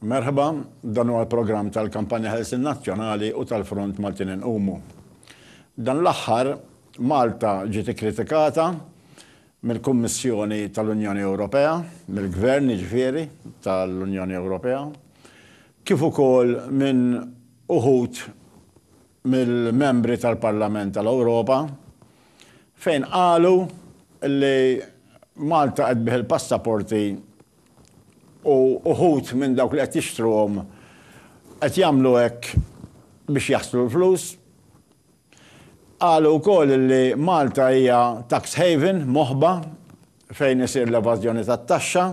Merħba, dan huwa l-programm tal-Kampanja Ħelsien Nazzjonali u tal-Front Maltin Inqumu. Dan l-aħħar, Malta ġiet ikkritikata mill-Kummissjoni tal-Unjoni Ewropea, mill-Gvern jiġifieri tal-Unjoni Ewropea, kif ukoll minn uħud mill-Membri tal-Parlament tal-Ewropa, fejn qalu li Malta qed tbigħ il-passaporti u uħud minn dawk li qed jixtruhom qed jagħmlu hekk biex jaħslu l-flus. Qalu wkoll li Malta hija tax haven, moħba, fejn isir l-evażjoni tat-taxxa.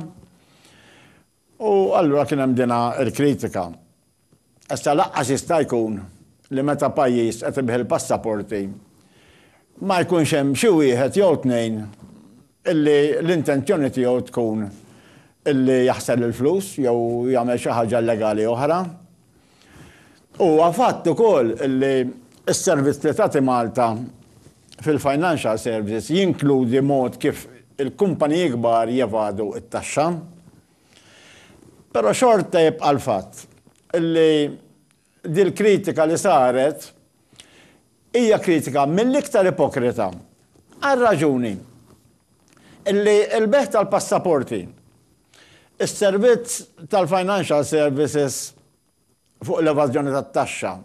U allura kien hemm dinha l-kritika. Issa lanqas jista' jkun li meta pajjiż qed ibigħ il-passaporti ma jkunx hemm xi wieħed jew tnejn illi l-intenzjoni tiegħu tkun illi jaħsar il-flus jew jagħmel xi ħaġa illegali oħra. Huwa fatt ukoll illi s-servizz li tagħti Malta fil-financial services jinkludi mod kif il-kumpaniji kbar jevadu t-taxxa. Però xorta jibqa' l-fatt illi Dil-kritika li saret hija kritika mill-iktar ipokrita għar-raġuni li l-bejgħ tal-passaporti, is-servizz tal-financial services fuq l-evażjoni tat-taxxa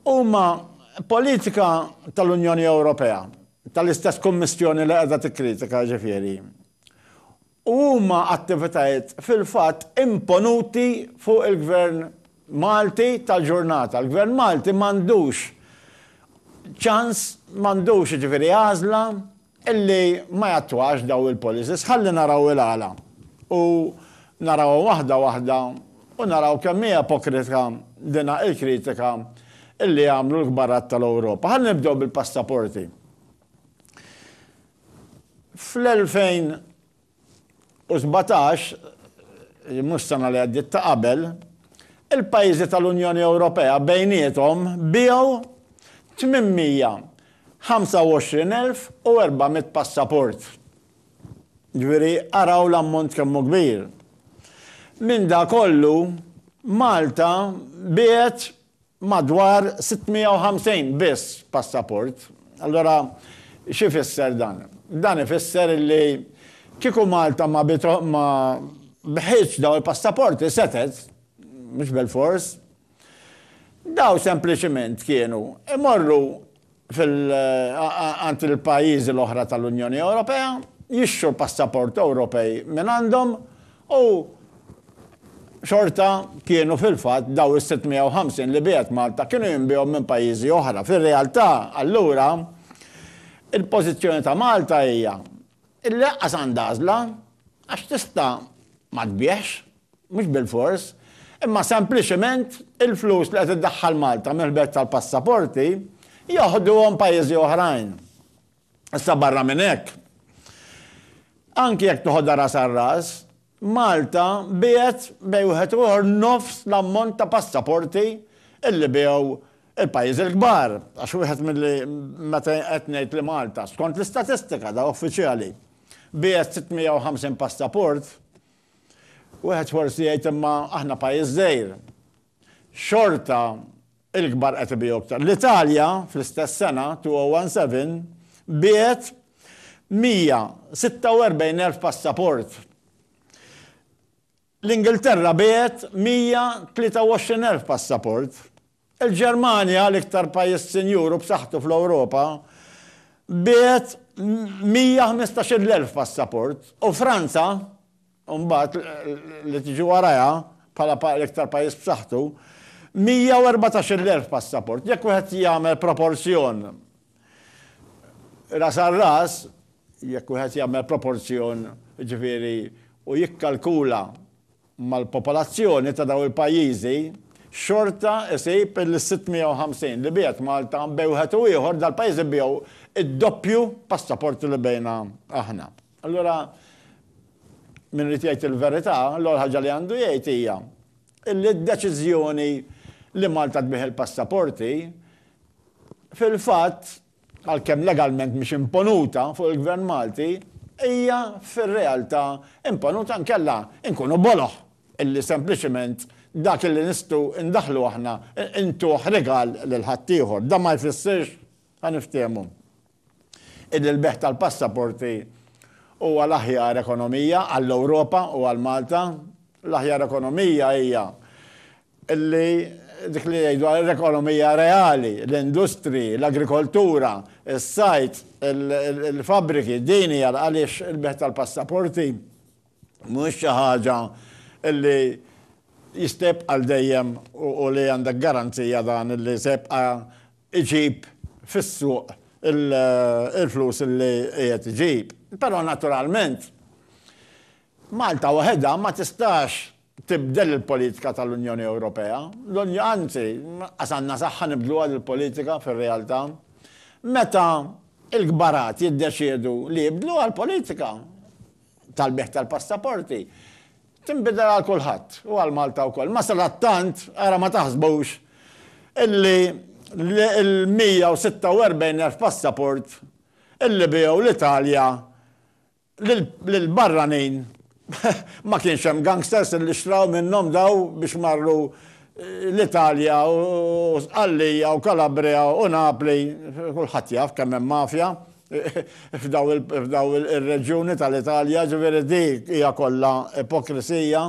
huma politika tal-Unjoni Ewropea, tal-istess Kummissjoni li qiegħda tikkritika jiġifieri, u huma attivitajiet fil-fatt imponuti fuq il-Gvern Malti tal-ġurnata. Il-Gvern Malti m'għandux ċans, m'għandux jiġifieri għażla illi ma jattwax dawn il-policies. Ħalli naraw il-għala u narawhom waħda waħda u naraw kemm hi ipokritka dina il-kritika illi jagħmlu l-kbarat tal-Ewropa. Ħalli nibdew bil-passaporti. Fl-2017, mhux sena li għaddiet ta' qabel, il-pajjiżi tal-Unjoni Ewropea bejniethom biegħu 825,400 passaport. Jiġifieri araw l-ammont kemm hu kbir. Minn dak kollu, Malta biegħet madwar 650 biss passaport. Allura xi jfisser dan? Dan ifisser li kieku Malta ma ma bħietx dawn il-passaporti setgħet, mhux bilfors, dawn sempliċement kienu jmorru għand il-pajjiżi l-oħra tal-Unjoni Ewropea, jixtru l-passaport Ewropej mingħandhom u xorta kienu fil-fatt dawn is-650 li biegħet Malta kienu jinbiegħu minn pajjiżi oħra. Fir-realtà, allura, il-pożizzjoni ta' Malta hija li lanqas għandha għażla għax tista' ma tbiegħx. mhux bilfors, imma sempliċement il-flus li qed iddaħħal Malta mill-ħbeb tal-passaporti joħduhom pajjiżi oħrajn. Issa barra minn hekk, anki jekk toħodha ras għal ras, Malta biegħet bejn wieħed u ieħor nofs l-ammont ta' passaporti illi biegħu il-pajjiż il-kbar, għax wieħed milli meta qed ngħid li Malta, skont l-istatistika da uffiċjali, biegħet 650 passaport, Wieħed forsi jgħid imma aħna pajjiż żgħir. Xorta il-kbar qed ibiegħu iktar. L-Italja fl-istess sena, 2017, biegħet 146,000 passaport. L-Ingilterra biegħet 123,000 passaport. Il-Ġermanja, l-iktar pajjiż sinjur u b'saħħtu fl-Ewropa, biegħet 115-il elf passaport u Franza, imbagħad, li tiġi warajha bħala l-iktar pajjiż b'saħħtu, 114-il elf passaport. Jekk wieħed jagħmel proporzjon ras għal ras, jekk wieħed jagħmel proporzjon, jiġifieri, u jikkalkula mal-popolazzjoni ta' dawn il-pajjiżi, xorta isib il-650 li biegħet Malta bejn wieħed u ieħor, dal-pajjiżi biegħu d-doppju passaporti li bigħna aħna. Allura min irid jgħid il-verità, l-ewwel ħaġa li għandu jgħid hija li d-deċiżjoni li Malta tbigħ il-passaporti fil-fatt għalkemm legalment mhix imponuta fuq il-Gvern Malti, hija fir-realtà imponuta inkella nkunu boloh illi sempliċement dak illi nistgħu ndaħħlu aħna ntuh rigal lil ħaddieħor. Dan ma jfissirx, ħa niftehmu, illi l-bejgħ tal-passaporti huwa l-aħjar ekonomija għall-Ewropa u għal Malta. L-aħjar ekonomija hija li dik li jgħidu għal ekonomija reali, l-industriji, l-agrikoltura, is-sajd, il-fabbriki, din hija għaliex il-bejgħ tal-passaporti mhuwiex xi ħaġa li jista' jibqa' għal dejjem u li għandek garanzija dan li se jibqa' jġib fis-suq il-flus li qiegħed iġib. Però naturalment Malta waħedha ma tistax tibdel il-politika tal-Unjoni Ewropea, l-Unjo, anzi, anqas għandna saħħa nibdluha l-politika fir-realtà. Meta l-kbarat jiddeċiedu li jibdluha l-politika tal-bejgħ tal-passaporti, tinbidel għal kulħadd u għal Malta wkoll. Ma sadattant, ara ma taħsbux illi l-146,000 passaport illi biegħu l-Italja Lil barranin ma kienx hemm gangsters li xtraw minnhom daw biex marru l-Italja u Sqallija u Calabria u Napli, kulħadd jaf kemm hemm mafja f'daw ir-reġjuni tal-Italja, ġifieri dik hija kollha ipokrisija.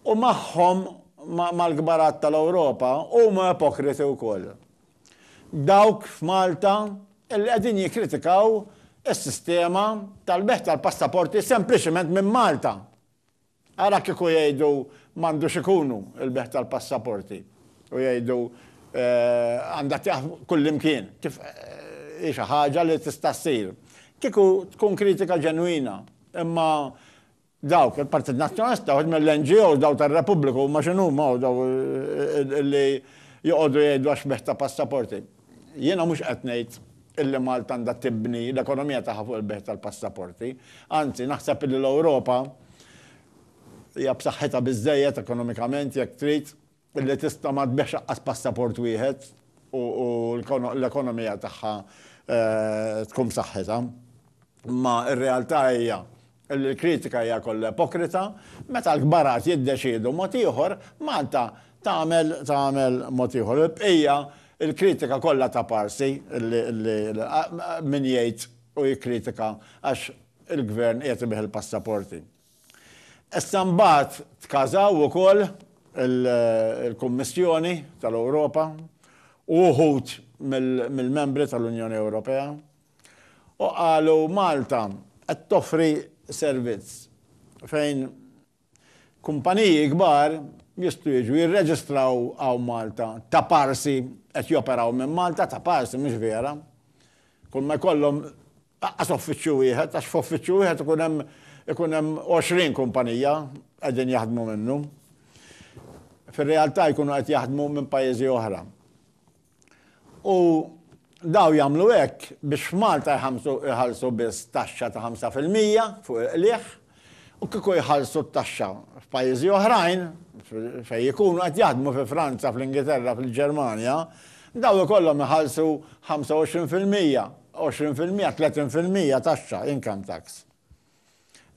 U magħhom, mal-kbarat tal-Ewropa, huma ipokriti wkoll. Dawk f'Malta li qegħdin jikkritikaw is-sistema tal-bejgħ tal-passaporti sempliċement minn Malta. Ara kieku jgħidu m'għandux ikunu l-bejgħ tal-passaporti u jgħidu għandha tieqaf kullimkien, kif hi xi ħaġa li tista' ssir. Kieku tkun kritika ġenwina, imma Dawk, il-Partit Nazzjonalista, uħud mill-NGOs, dawk tar-Repubbliku, huma x'inhuma hawn daw li joqogħdu jgħidu għax xbieh ta' passaporti. Jiena mhux qed ngħid illi Malta għandha tibni l-ekonomija tagħha fuq il-bejgħ tal-passaporti. Anzi, naħseb illi l-Ewropa hija b'saħħitha biżżejjed ekonomikament, jekk trid, li tista' ma tbigħx lanqas passaport wieħed u l-ekonomija tagħha tkun b'saħħitha. Imma r-realtà hija li l-kritika hija kollha ipokrita, meta l-kbarat jiddeċiedu mod ieħor, Malta tagħmel tagħmel mod ieħor. Il-bqija, il-kritika kollha ta' Parsi li li min jgħid u jikkritika għax il-Gvern qiegħed ibigħ il-passaporti. Issa mbagħad tkażaw ukoll il-Kummissjoni tal-Ewropa u wħud mill-membri tal-Unjoni Ewropea u qalu Malta qed toffri servizz fejn kumpaniji kbar jistgħu jiġu jirreġistraw hawn Malta ta' parsi qed joperaw minn Malta ta' parsi mhux vera kull ma jkollhom Aqqas uffiċċju wieħed, għax f'uffiċċju wieħed ikun hemm ikun hemm 20 kumpanija qegħdin jaħdmu minnu. Fir-realtà jkunu qed jaħdmu minn pajjiżi oħra. U daw jagħmlu hekk biex f'Malta jħallsu biss taxxa ta' 5% fuq il-qligħ u kieku jħallsu t-taxxa f'pajjiżi oħrajn, fejn ikunu qed jaħdmu fi Franza, fl-Ingilterra, fil-Ġermanja, dawn ikollhom iħallsu 25 fil-mija, 20 fil-mija, 30 fil-mija taxxa, income tax.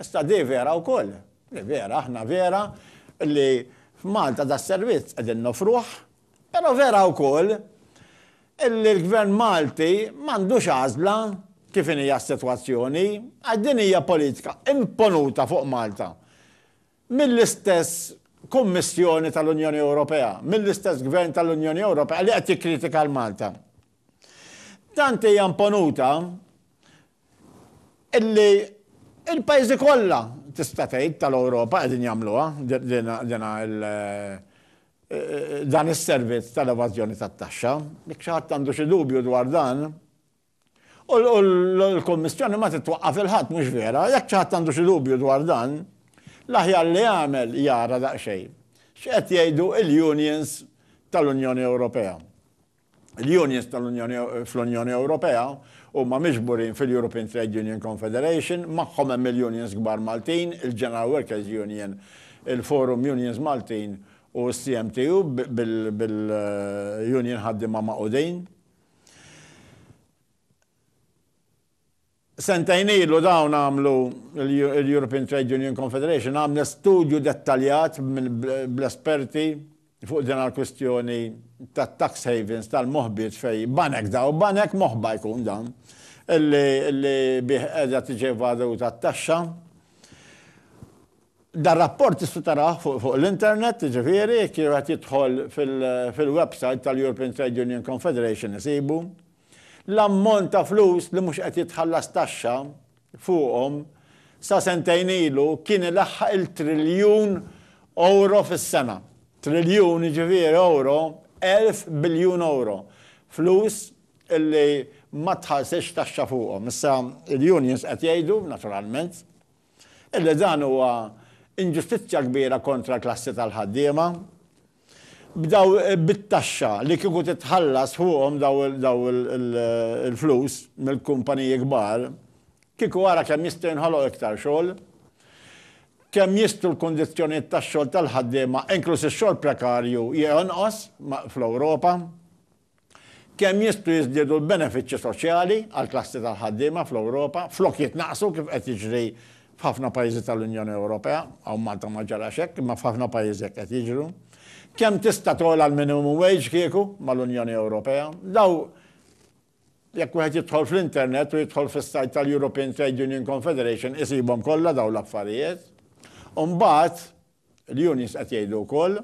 Issa di vera wkoll, di vera, aħna vera li f'Malta das-servizz qegħdin noffruh, Però vera wkoll illi l-Gvern Malti m'għandux għażla kif inhi s-sitwazzjoni għax din hija politika imponuta fuq Malta mill-istess Kummissjoni tal-Unjoni Ewropea, mill-istess Gvern tal-Unjoni Ewropea li qed jikkritika 'l Malta. Tant hija imponuta illi l-pajjiżi kollha tista' tgħid tal-Ewropa qegħdin jagħmluha dina dan is-servizz tal-evażjoni tat-taxxa. Jekk xi ħadd għandu xi dubju dwar dan, u l-Kummissjoni ma titwaqqaf il-ħadd mhux vera, jekk xi ħadd għandu xi dubju dwar dan, l-aħjar li jagħmel jara daqsxejn x'qed jgħidu l-unions tal-Unjoni Ewropea. l-unions fl-Unjoni Ewropea huma miġburin fil-European Trade Union Confederation, magħhom hemm il-unions kbar Maltin, il-General Workers Union, il-Forum Unions Maltin u s-CMTU bil-union ħaddiema magħqudin. Sentejn ilu dawn għamlu, il-European Trade Union Confederation għamlet studju dettaljat bl-esperti fuq din għall-kwistjoni tat-tax havens tal-moħbiet fejn banek daw, banek moħba jkun dan, li bih qiegħda tiġi evaduta t-taxxa. Dar-rapport tista' tarah fuq l-internet, jiġifieri jekk wieħed jidħol fil-websajt tal-European Trade Union Confederation isibu. L-ammont ta' flus li mhux qed jitħallas taxxa fuqhom sa sentejn ilu kien ilaħħaq il-triljun ewro fis-sena. Triljun jiġifieri ewro elf biljun ewro. Flus li ma tħallsitx taxxa fuqhom. Issa l-unions qed jgħidu, naturalment, Illi dan huwa inġustizzja kbira kontra l-klassi tal-ħaddiema. B'daw bit-taxxa li kieku titħallas fuqhom daw il-flus mill-kumpaniji kbar, kieku ara kemm jista' jinħoloq iktar xogħol, kemm jistgħu l-kundizzjonijiet tax-xogħol tal-ħaddiema, inkluż ix-xogħol prekarju, jonqos fl-Ewropa. Kemm jistgħu jiżdiedu l-benefiċċji soċjali għall-klassi tal-ħaddiema fl-Ewropa flok jitnaqqsu kif qed jiġri f'ħafna pajjiżi tal-Unjoni Ewropea, hawn Malta ma ġarax hekk imma f'ħafna pajjiżi hekk qed jiġru. Kemm tista' togħla l-minimum wage kieku mal-Unjoni Ewropea? Daw jekk wieħed jidħol fl-internet u jidħol fis-sajt tal-European Trade Union Confederation isibhom kollha dawn l-affarijiet. U mbagħad, Il-unions qed jgħidu wkoll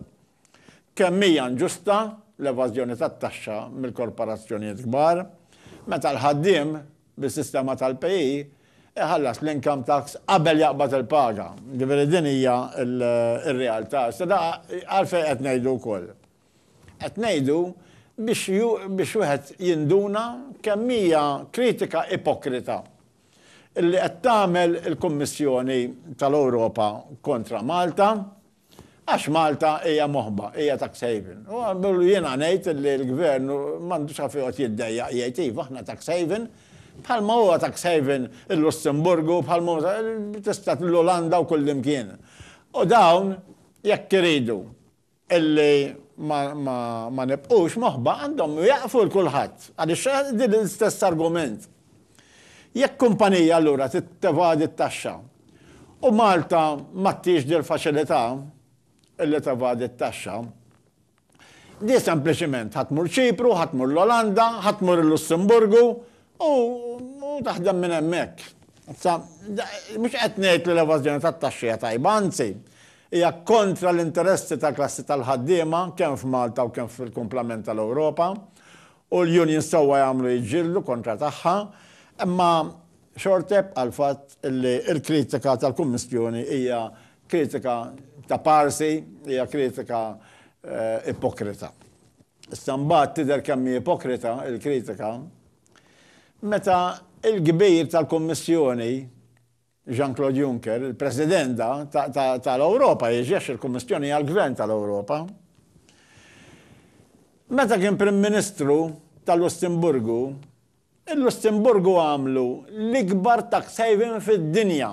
kemm hija inġusta l-evażjoni tat-taxxa mill-korporazzjonijiet kbar meta l-ħaddiem bis-sistema tal-PAYE iħallas l-income tax qabel jaqbad il-paga. Jiġifieri din hija r-realtà. Issa da għalfejn qed ngħidu wkoll? Qed ngħidu biex biex wieħed jinduna kemm hija kritika ipokrita li qed tagħmel il-Kummissjoni tal-Ewropa kontra Malta, għax Malta hija moħba, hija tax haven. U għamlu jiena ngħid li l-Gvern m'għandux għaf joqgħod jiddejjaq jgħid iva aħna tax haven, bħalma huwa tax haven il-Lussemburgu, bħalma huwa tista' l-Olanda u kullimkien. U dawn jekk iridu Illi ma nibqgħux moħba għandhom iwieqfu 'l kulħadd, għaliex din l-istess argument. Jekk kumpanija allura trid tevadi t-taxxa u Malta m'għaddhiex dil-faċilità illi tevadi t-taxxa, di sempliċiment ħa tmur Ċipru, ħa tmur l-Olanda, ħa tmur il-Lussemburgu u taħdem minn hemmhekk. Issa, mhux qed ngħid li l-evażjoni tat-taxxi hija tajba, anzi, Hija kontra l-interessi tal-klassi tal-ħaddiema kemm f'Malta u kemm fil-kumplament tal-Ewropa u l-unions sewwa jagħmlu jiġġieldu kontra tagħha, imma xorta jibqa' l-fatt li l-kritika tal-Kummissjoni hija kritika ta' parsi, hija kritika ipokrita. Issa mbagħad tidher kemm hi ipokrita l-kritika meta l-kbir tal-Kummissjoni, Jean-Claude Juncker, il-President da tal-Ewropa, jġex il-Kummissjoni hija l-Gvern tal-Ewropa. Meta kien Prim Ministru tal-Lussemburgu, il-Lussemburgu għamlu l-ikbar tax haven fid-dinja.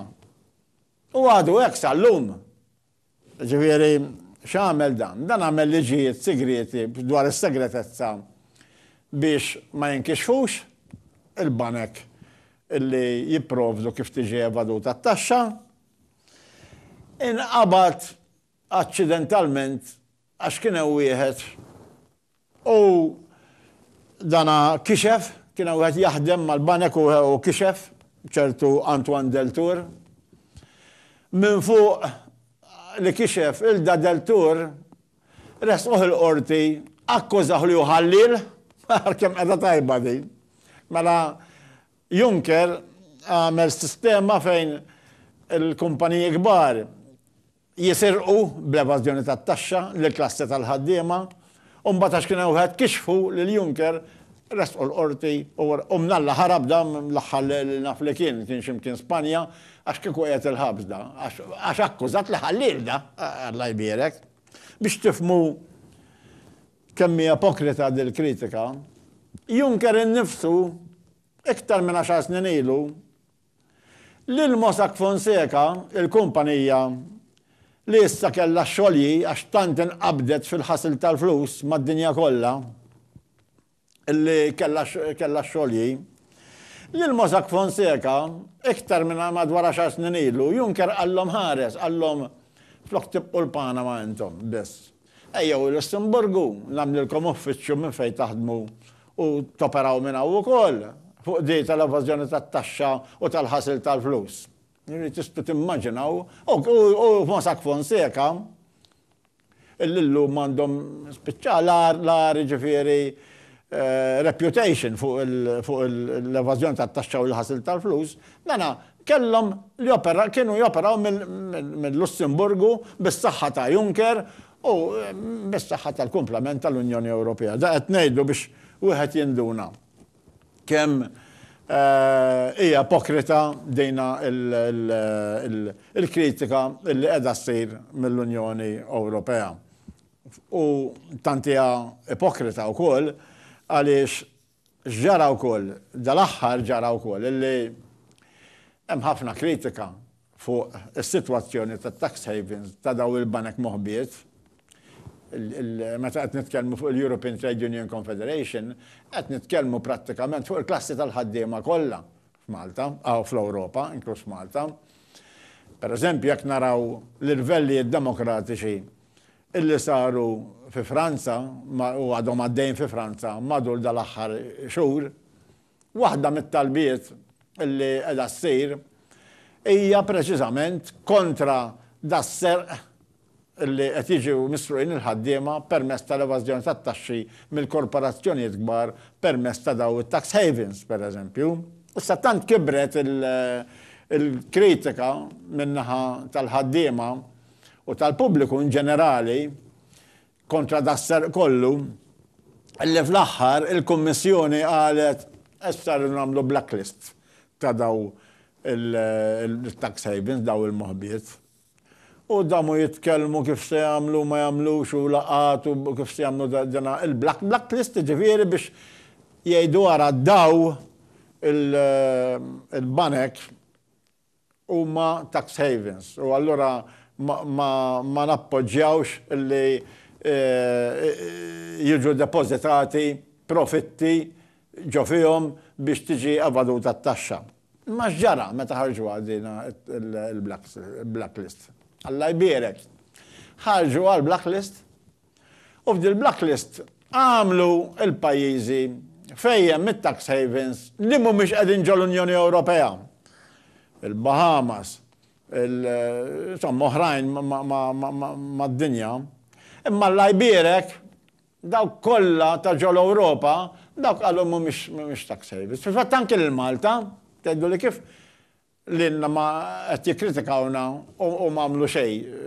U għadu hekk sal-lum. Jiġifieri, x'għamel dan? Dan għamel liġijiet sigrieti dwar is-segretezza biex ma jinkixfux il-banek li jipprovdu kif tiġi evaduta t-taxxa. Inqabad aċċidentalment għax kien hemm wieħed U dana kixef, kien hemm wieħed jaħdem mal-banek u kixef, ċertu Antoine Deltour. Minn fuq li kixef Ilda Deltour, ressquh il-Qorti, akkużah li hu ħalliel, ara kemm qegħda tajba din. Mela Juncker għamel sistema fejn il-kumpaniji kbar, jisirqu bl-evażjoni tat-taxxa lill-klassi tal-ħaddiema u mbagħad għax kien hemm wieħed kixfu lil Juncker ressqu l-Qorti u mnalla ħarab dan l-aħħar li naf li kien, kien xi mkien Spanja għax kieku qiegħed il-ħabs da għax akkużat li ħa lil da Alla jbierek. Biex tifhmu kemm hi ipokrita dil-kritika, Juncker innifsu iktar minn għaxar snin ilu, Lil Mossack Fonseca, il-kumpanija, li issa kellha xolji għax tant inqabdet fil-ħasil tal-flus mad-dinja kollha, li kellha x-xolji, lil Mossack Fonseca, iktar minn madwar għaxar snin ilu, Juncker qallhom ħares, qallhom flok tibqu l-Panama intom biss, Ejjew il-Lussemburgu, nagħmlilkom uffiċċju minn fejn taħdmu u toperaw minn hawn ukoll, fuq qdi tal-evażjoni tat-taxxa u tal-ħasil tal-flus. Tistgħu timmaġinaw, u Mossack Fonseca, illi llum għandhom, spiċċa l-agħar jiġifieri reputation fuq l-evażjoni tat-taxxa u l-ħasil tal-flus, dana Kellhom joperaw, kienu joperaw mill-Lussemburgu bis-saħħa ta' Juncker u bis-saħħa tal-kumplament tal-Unjoni Ewropea. Da qed ngħidu biex wieħed jinduna kemm hija ipokrita dina l-kritika li qiegħda ssir mill-Unjoni Ewropea. U tant hija ipokrita wkoll għaliex X'ġara wkoll, dal-aħħar ġara wkoll li hemm ħafna kritika fuq is-sitwazzjoni tat-tax havens ta' dawn il-banek moħbiet. Meta qed nitkellmu fuq il-European Trade Union Confederation, qed nitkellmu prattikament fuq il-klassi tal-ħaddiema kollha f'Malta, hawn fl-Ewropa, inkluż f'Malta. Pereżempju, jekk naraw l-irvellijiet demokratiċi illi saru fi Franza u għadhom għaddejjin fi Franza matul dal-aħħar xhur, waħda mit-talbiet illi qiegħda ssir hija preċiżament kontra das-serq illi qed jiġu misruqin il-ħaddiema permezz tal-evażjoni tat-taxxi mill-korporazzjonijiet kbar permezz ta' dawn it-tax havens, pereżempju. Issa tant kibret il-kritika min-naħa tal-ħaddiema, u tal-pubbliku in ġenerali kontra das-serq kollu, illi fl-aħħar il-Kummissjoni qalet issa rridu nagħmlu blacklist ta' dawn il-tax havens, dawn il-moħbiet. U damu jitkellmu kif se jagħmlu ma jagħmlux u laqgħat u kif se jagħmlu dana il-blacklist ġifieri biex jgħidu ara daw il-banek huma tax havens u allura ma nappoġġjawx li jiġu depożitati profitti ġo fihom biex tiġi evaduta t-taxxa. Imma x'ġara meta ħarġuha din il-blacklist? Alla jbierek! Ħarġuha l-blacklist U f'dil-blacklist għamlu l-pajjiżi fejn hemm it-tax havens li mhumiex qegħdin ġol-Unjoni Ewropea. Il-Bahamas, insomma oħrajn mad-dinja. Imma l-Iberek, dawk kollha ta' ġol-Ewropa, dawk qalu mhumiex tax havens. Fil-fatt anke lil Malta, tgħidu li kif Lilna ma qed jikkritikawna u ma għamlu xejn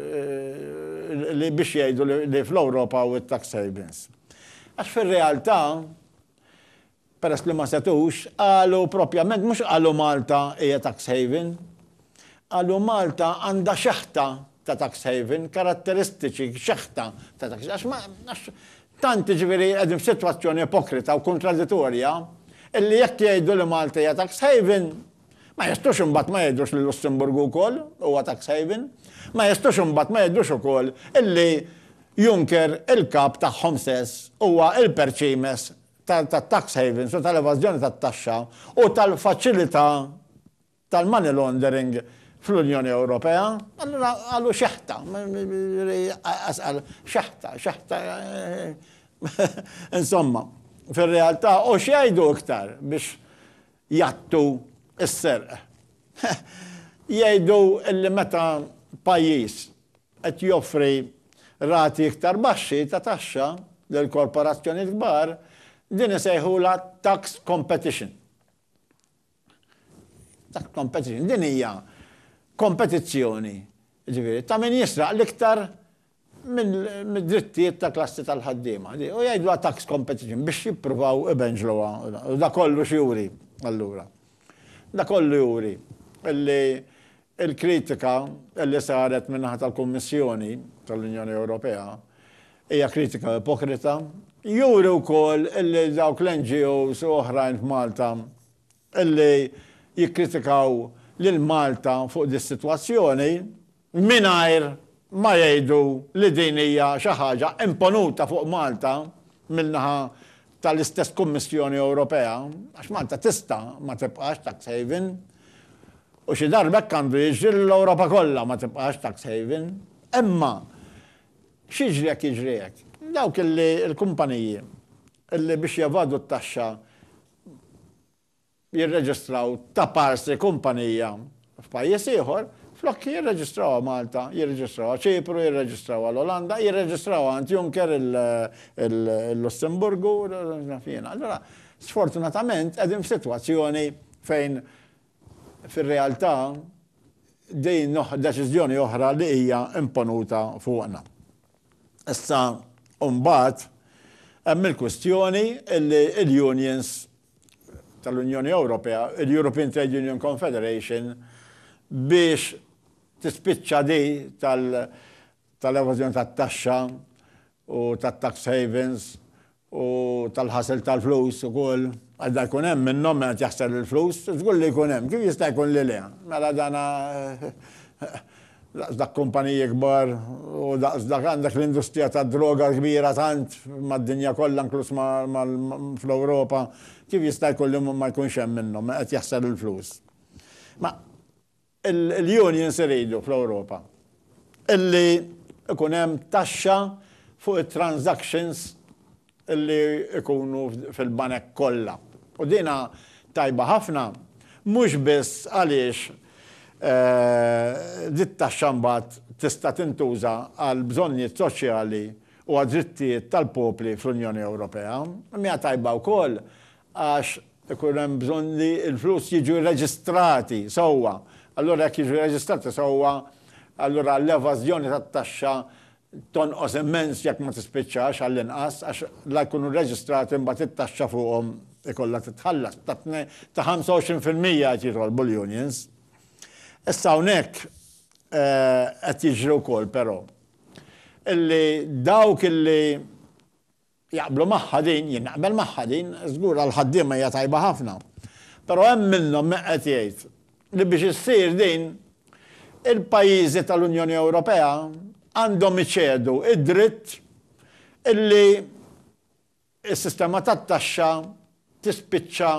li biex jgħidu li fl-Ewropa hawn it-tax havens. Għax fir-realtà, peress li ma setgħux, qalu propjament mhux qalu Malta hija tax haven, qalu Malta għandha xeħta ta' tax haven, karatteristiċi, xeħta ta' tax haven. Għax għax tant jiġifieri qegħdin f'sitwazzjoni ipokrita u kuntraditorja illi jekk jgħidu li Malta hija tax haven, Ma jistgħux imbagħad ma jgħidux li l-Lussemburgu wkoll huwa tax haven. Ma jistgħux imbagħad ma jgħidux ukoll illi Juncker, il-kap tagħhom stess, huwa l-perċimes tat-tax havens u tal-evażjoni tat-taxxa u tal-faċilità tal-money laundering fl-Unjoni Ewropea. Allura qalu xeħta. Asqal xeħta, xeħta. Insomma, fir-realtà u x'jgħidu iktar biex jgħattu s-serq. Jgħidu li meta pajjiż qed joffri rati iktar baxxi ta' taxxa lil korporazzjonijiet kbar, din isejħulha tax competition. Tax competition, din hija kompetizzjoni, jiġifieri, ta' min jisraq l-iktar mid-drittijiet ta' klassi tal-ħaddiema, u jgħidluha tax competition biex jippruvaw ibenġluha. U da kollu x'juri allura? Da kollu juri li l-kritika li saret min-naħa tal-Kummissjoni tal-Unjoni Ewropea hija kritika ipokrita. Juri wkoll li dawk l-NGOs u oħrajn f'Malta li jikkritikaw lil Malta fuq dis-sitwazzjoni mingħajr ma jgħidu li din hija xi ħaġa imponuta fuq Malta min-naħa tal-istess Kummissjoni Ewropea, għax Malta tista' ma tibqax tax haven u xi darba hekk għandu jiġri li l-Ewropa kollha ma tibqax tax haven. Imma x'jiġri jekk jiġri hekk? Dawk li l-kumpaniji li biex jevadu t-taxxa jirreġistraw ta' parsi kumpanija f'pajjiż ieħor, flok jirreġistrawha Malta, jirreġistrawha Ċipru, jirreġistrawha l-Olanda, jirreġistrawha għand Juncker il-Lussemburgu, naf jiena. Allura, sfortunatament qegħdin f'sitwazzjoni fejn fir-realtà, din deċiżjoni oħra li hija imponuta fuqna. Issa, u mbagħad, hemm il-kwistjoni li l-unions tal-Unjoni Ewropea, il-European Trade Union Confederation, biex tispiċċa di tal-evażjoni tat-taxxa u tat-tax havens u tal-ħasil tal-flus ukoll, għax dan ikun hemm minnhom min qed jaħsel il-flus, żgur li jkun hemm, kif jista' jkun li le? Mela dan daqs dak kumpaniji kbar u daqs dak għandek l-industrija tad-droga l-kbira tant mad-dinja kollha inkluż fl-Ewropa, kif jista' jkun li ma jkunx hemm minnhom min qed jaħsel il-flus? Ma Il-unions iridu fl-Ewropa illi ikun hemm taxxa fuq it-transactions illi ikunu fil-banek kollha. U dina tajba ħafna mhux biss għaliex dit-taxxa mbagħad tista' tintuża għall-bżonnijiet soċjali u għad-drittijiet tal-popli fl-Unjoni Ewropea, imma hija tajba wkoll għax ikun hemm bżonn li l-flus jiġu rreġistrati sewwa. Allura jekk jiġu rreġistrati sewwa, allura l-evażjoni tat-taxxa tonqos immens jekk ma tispiċċax għall-inqas għax la jkunu rreġistrati mbagħad it-taxxa fuqhom ikollha titħallas ta' tnejn ta' 25 fil-mija qed jitolbu l-unions. Issa hawnhekk qed jiġri wkoll però illi dawk illi Jaqblu magħha din, jien naqbel magħha din, żgur għall-ħaddiema hija tajba ħafna. Però hemm minnhom min qed jgħid li biex issir din, il-pajjiżi tal-Unjoni Ewropea għandhom iċedu id-dritt illi s-sistema tat-taxxa tispiċċa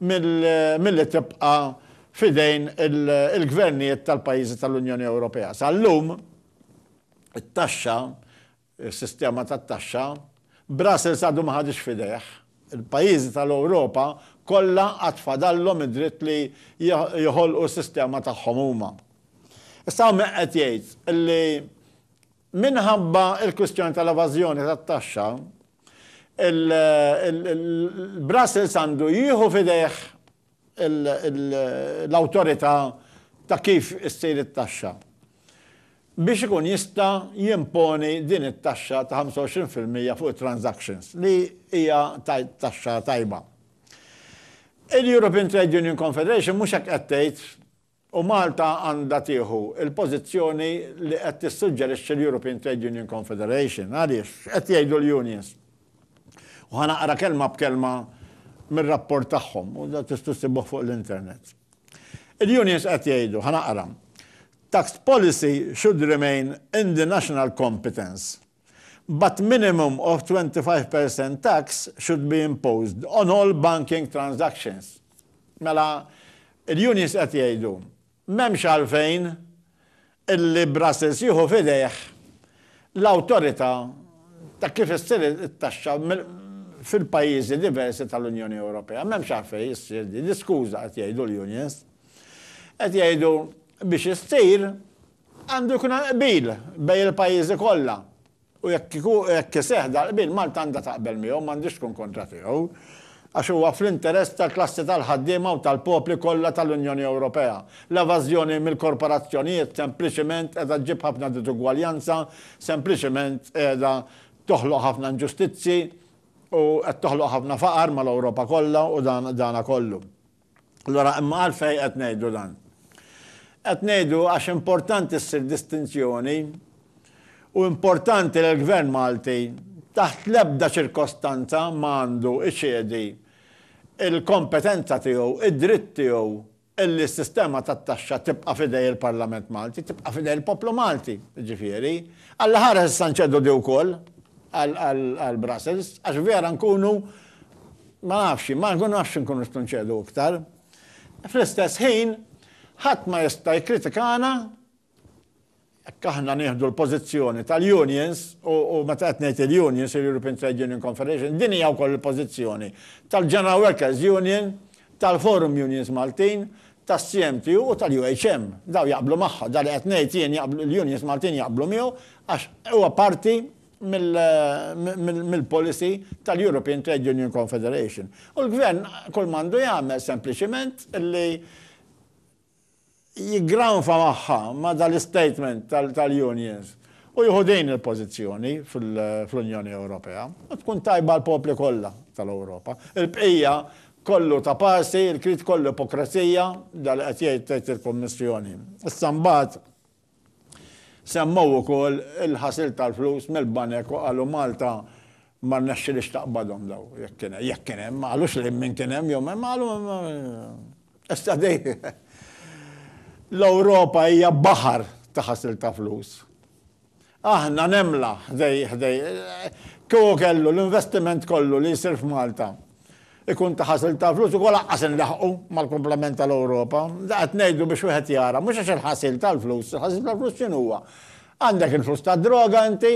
milli tibqa' f'idejn il-gvernijiet tal-pajjiżi tal-Unjoni Ewropea. Sal-lum, it-taxxa is-sistema tat-taxxa, Brussels għadu ma ħadhiex f'idejh. Il-pajjiżi tal-Ewropa kollha għad fadallhom id-dritt li joħolqu s-sistema tagħhom huma. Issa hawn min qed jgħid li minħabba l-kwistjoni tal-evażjoni tat-taxxa, il-Brussels għandu jieħu f'idejh l-awtorità ta' kif issir it-taxxa biex ikun jista' jimponi din it-taxxa ta' 25 fil-mija fuq it-transactions, li hija taxxa tajba. Il-European Trade Union Confederation mhux hekk qed tgħid. U Malta għandha tieħu l-pożizzjoni li qed tissuġġerixxi l-European Trade Union Confederation. Għaliex? X'qed jgħidu l-unions? U ħa naqra kelma b'kelma mir-rapport tagħhom, u dan tistgħu ssibuh fuq l-internet. Il-unions qed jgħidu, ħa naqra, Tax policy should remain in the national competence. but minimum of 25 per cent tax should be imposed on all banking transactions. Mela, il-unions qed jgħidu, m'hemmx għalfejn illi Brussels jieħu f'idejh l-awtorità ta' kif issir it-taxxa fil-pajjiżi diversi tal-Unjoni Ewropea. M'hemmx għalfejn issir din l-iskuża, qed jgħidu l-unions. Qed jgħidu biex issir Għandu jkun hemm qbil bejn il-pajjiżi kollha u jekk iku, jekk iseħħ dal-qbil Malta għandha taqbel miegħu, m'għandhiex tkun kontra tiegħu. Għax huwa fl-interess tal-klassi tal-ħaddiema u tal-popli kollha tal-Unjoni Ewropea. L-evażjoni mill-korporazzjonijiet sempliċiment qiegħda ġġib ħafna diżugwaljanza, sempliċiment qiegħda toħloq ħafna inġustizzji u qed toħloq ħafna faqar mal-Ewropa kollha u dan, dana kollu. Allura, imma għalfejn qed ngħidu dan? Qed ngħidu għax importanti ssir distinzjoni u importanti li l-Gvern Malti taħt l-ebda ċirkostanza ma għandu iċedi il-kompetenza tiegħu, id-dritt tiegħu illi s-sistema tat-taxxa tibqa' f'idej il-Parlament Malti, tibqa' f'idej il-poplu Malti, ġifieri. Alla ħares issa nċedu di wkoll għal Brussels, għax vera nkunu Ma nafx jien, ma nafx inkunu nistgħu nċedu iktar. Fl-istess ħin, ħadd ma jista' jikkritikana jekk aħna nieħdu l-pożizzjoni tal-unions, u meta qed ngħid il-unions, il-European Trade Union Confederation, din hija wkoll il-pożizzjoni tal-General Workers Union, tal-Forum Unions Maltin, tas-CMTU u tal-UHM. Dawn jaqblu magħha, dan li qed ngħid jien jaqblu l-unions Maltin jaqblu miegħu għax huwa parti mill-policy tal-European Trade Union Confederation. U l-Gvern kull ma għandu jagħmel sempliċiment li jiggranfa magħha ma' dal-istatement tal-unions u jieħu din il-pożizzjoni fl-Unjoni Ewropea u tkun tajba għall-popli kollha tal-Ewropa. Il-bqija kollu ta' parsi, il-krid kollu ipokrazija, dan li qed jgħid tgħid il-Kummissjoni. Issa mbagħad Semmew ukoll il-ħasil tal-flus mill-banek u qalu Malta ma rnexxilhiex taqbadhom daw jekk kien hemm, jekk kien hemm, ma qalux li min kien hemm jew ma qalu issa dej l-Ewropa hija baħar ta' ħasil ta' flus. Aħna nemla ħdej ħdej. Kieku kellu l-investiment kollu li jsir f'Malta ikun ta' ħasil ta' flus ukoll lanqas inlaħħqu mal-kumplament tal-Ewropa. Da qed ngħidu biex wieħed jara, mhux għax il-ħasil tal-flus, il-ħasil tal-flus x'inhuwa? Għandek il-flus tad-droga inti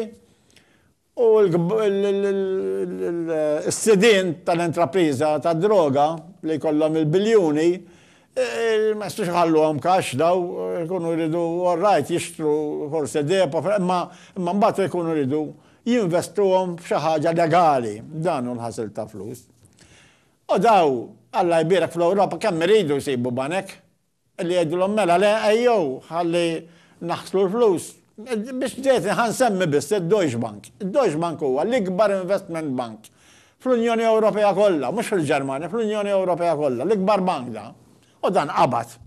u l-sidien tal-intrapriża tad-droga li jkollhom il-biljuni Ma jistgħux iħalluhom cash dawn, ikunu jridu all right jixtru forsi depo, imma mbagħad ikunu jridu jinvestuhom f'xi ħaġa legali. Dan hu l-ħasil ta' flus. U dawn, Alla jbierek fl-Ewropa kemm iridu jsibu banek li jgħidulhom mela le ejjew ħalli naħslu l-flus. Biex ġejtni ħa nsemmi biss id-Deutsche Bank. Id-Deutsche Bank huwa l-ikbar investment bank Fl-Unjoni Ewropea kollha, mhux fil-Ġermanja, fl-Unjoni Ewropea kollha, l-ikbar bank da. U dan qabad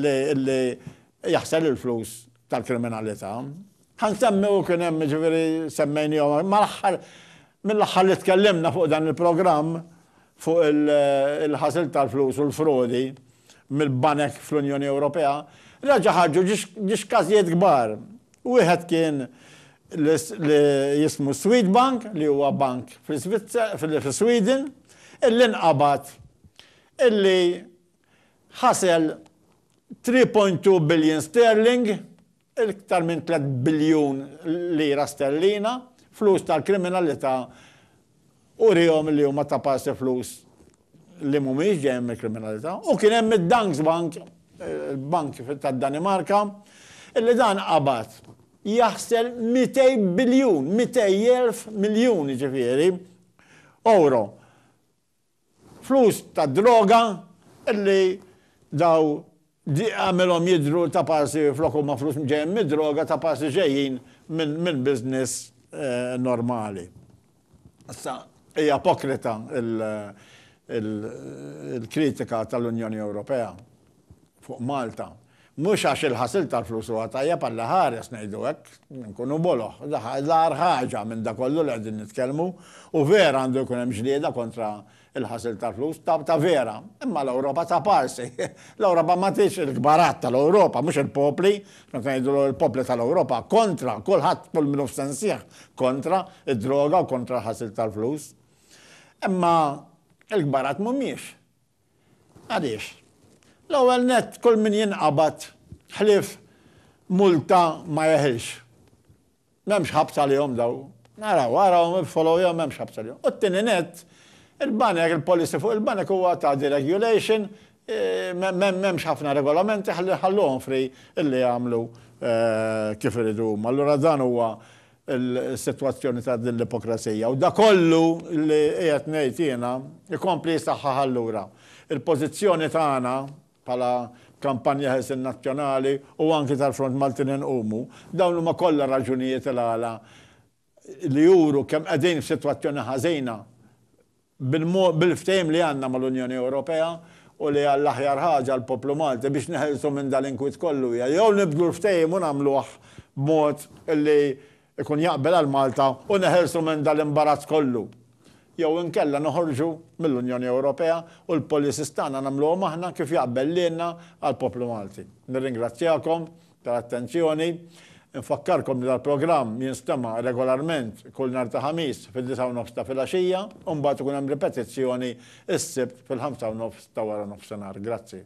li jaħsel il-flus tal-kriminalità. Ħan semmi u kien hemm ġifieri semmejnihom mal-aħħar mill-aħħar li tkellimna fuq dan il-programm fuq il-ħasil tal-flus u l-frodi mill-banek fl-Unjoni Ewropea, reġa' ħarġu ġiex każijiet kbar. Wieħed kien li jismu Swedbank, li huwa bank fis-Sweden, illi nqabad illi ħasel three point two billion sterling, iktar minn tliet biljun lira sterlina, flus tal-kriminalità Urihom li huma ta' pass il-flus li mhumiex ġejjin mill-kriminalità u kien hemm id-Danske Bank, il-bank tad-Danimarka, li dan qabad jaħsel mitej biljun, mitej elf miljun jiġifieri, ewro. Flus tad-droga li daw għamilhom jidhru ta' parsi flok huma flus ġejjin mid-droga ta' parsi ġejjin minn business normali. Issa hija ipokrita l-kritika tal-Unjoni Ewropea. fuq Malta. Mhux għax il-ħasil tal-flus huwa tajjeb għal li ħares ngħidu hekk, inkunu boloh. L-agħar ħaġa minn dak kollu li qegħdin nitkellmu, u vera għandu jkun hemm ġlieda kontra l-ħasil tal-flus, ta' vera. Imma l-Ewropa ta' parsi. L-Ewropa ma tridx il-kbarat tal-Ewropa, mhux il-popli, meta ngħidu l-popli tal-Ewropa, kontra kulħadd kull min hu f'sensih kontra d-droga u kontra l-ħasil tal-flus. Imma l-kbarat mhumiex Għaliex? L-ewwel nett kull min jinqabad ħlief multa ma jeħilx. M'hemmx ħabs għalihom dawn. Araw, araw, follow jew m'hemmx ħabs għalihom. U t-tieni nett, il-banek, il-policy fuq il-banek huwa ta' deregulation, eh, m'hemmx ħafna regolamenti ħalluhom free illi jagħmlu eh, kif iridu huma. Allura dan huwa il-sitwazzjoni ta' din l-ipokresija u dakollu li qiegħed ngħid jiena jkompli jsaħħaħ allura l-pożizzjoni tagħna bħala Kampanja Ħelsien Nazzjonali u anki tal-Front Maltin Inqumu. Dawn huma kollha raġunijiet il-għala li juru kemm qegħdin f'sitwazzjoni ħażina Bil-ftehim li għandna mal-Unjoni Ewropea u li hija l-aħjar ħaġa għall-poplu Malti biex neħilsu minn dan l-inkwiet kollu hija jew nibdlu l-ftehim u nagħmluh b'mod li jkun jaqbel għal Malta u neħilsu minn dan l-imbarazz kollu jew inkella noħorġu mill-Unjoni Ewropea u l-policies tagħna nagħmluhom aħna kif jaqbel lilna għall-poplu Malti. Nirringrazzjakom. ta' attenzjoni. Infakkarkom li dal-programm jinstema' regolarment kull nhar ta' Ħamis fid-disgħa u nofs ta' filgħaxija u mbagħad ikun hemm ripetizzjoni s-Sibt fil-ħamsa u nofs ta' waranofsinhar. Grazzi.